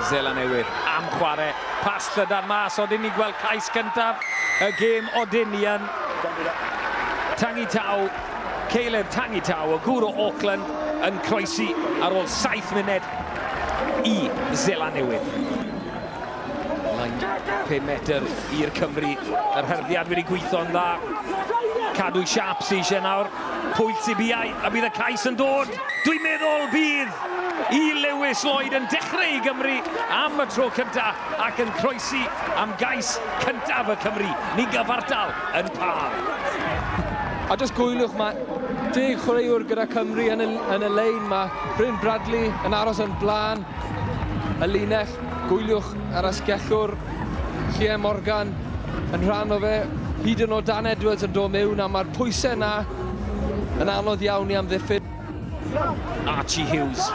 Zela Newydd am chwarae pas llydan mas, odyn ni gweld cais gyntaf y gêm odyn ni yn Tangi Taw, Caleb Tangi Taw o gŵr o Auckland yn croesi ar ôl 7 munud i Zela Newydd. Mae'n 5 metr i'r Cymry. Yr hyrddiad wedi gweithio'n dda. Cadw siap sy'n eisiau nawr. Pwyll Sibiau, a bydd y cais yn dod. Dwi'n meddwl bydd i Lewis Lloyd yn dechrau i Gymru am y tro cyntaf ac yn croesi am gais cyntaf y Cymry. Ni'n gyfartal yn pâr. A dros gwyliwch mae deg chwaraewr gyda Cymru yn y, yn y lein. Mae Bryn Bradley yn aros yn blaen. Y linell, gwyliwch yr asgellwr, Lle Morgan yn rhan o fe, hyd yn o Dan Edwards yn dod mewn a mae'r pwysau yna yn anodd iawn i amddiffyn. Archie Hughes.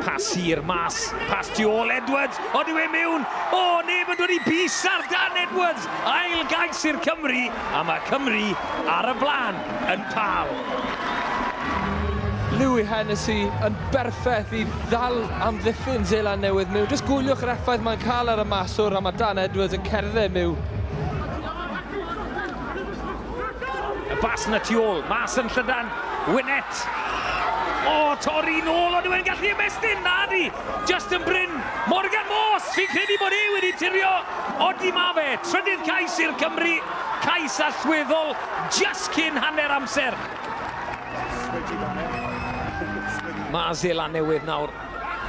Pas hir mas, pas tu ôl Edwards, ond yw e mewn? O, neb yn dod i bys ar Dan Edwards! Ail gais i'r Cymry a mae Cymru ar y blaen yn Pal. Louis Hennessy yn berffaith i ddal amddiffyn Seland Newydd miwn. Jyst gwyliwch yr effaith mae'n cael ar y maswr a mae Dan Edwards yn cerdded miwn. Y bas yn y tu ôl, mas yn llydan, Winett. O, torri nôl, ond yw e'n gallu ymestyn? Nadi! Justin Bryn, Morgan Morse, fi'n credu bod e wedi tirio, odi ma fe, trydydd cais i'r Cymry, cais allweddol just cyn hanner amser. Mae Zeland Newydd nawr,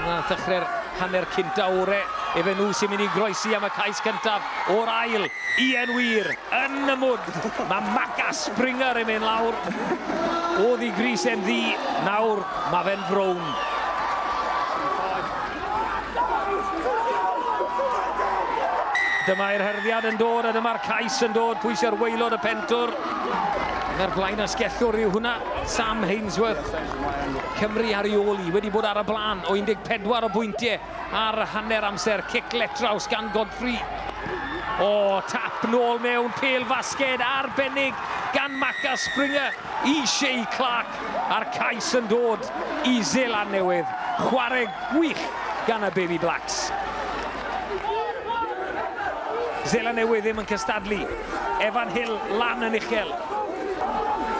na ddechrau'r hanner cynt awr-e, efe nhw sy'n mynd i groesi am y cais cyntaf o'r ail, Ian Weir, yn y mwd, mae Maca Springer yn mynd lawr, oedd i gris e'n ddu, nawr mae fe'n frown. Dyma'r hyrddiad yn dod a dyma'r cais yn dod, pwy sy'r waelod y pentwr? Mae'r blaen asgellwr yw hwnna, Sam Hainsworth. Cymru ar ei ôl i, wedi bod ar y blaen o 14 o bwyntiau ar hanner amser. Cic letraws gan Godfrey. O, tap nôl mewn, pêl fasged arbennig gan Macca Springer i Shay Clark. a'r cais yn dod i Seland Newydd, chwarae gwych gan y Baby Blacks. Seland Newydd ddim yn cystadlu. Evan Hill lan yn uchel.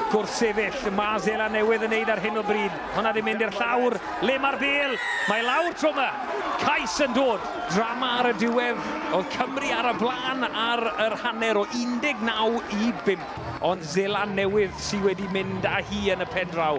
Gwrthsefyll, mae Seland Newydd yn neud ar hyn o bryd. Hwna di mynd i'r llawr, le mae'r bel, mae lawr tro yma. Cais yn dod. Drama ar y diwedd, oedd Cymru ar y blaen ar yr hanner o 19 i 5. Ond Zeland Newydd sy wedi mynd â hi yn y pendraw.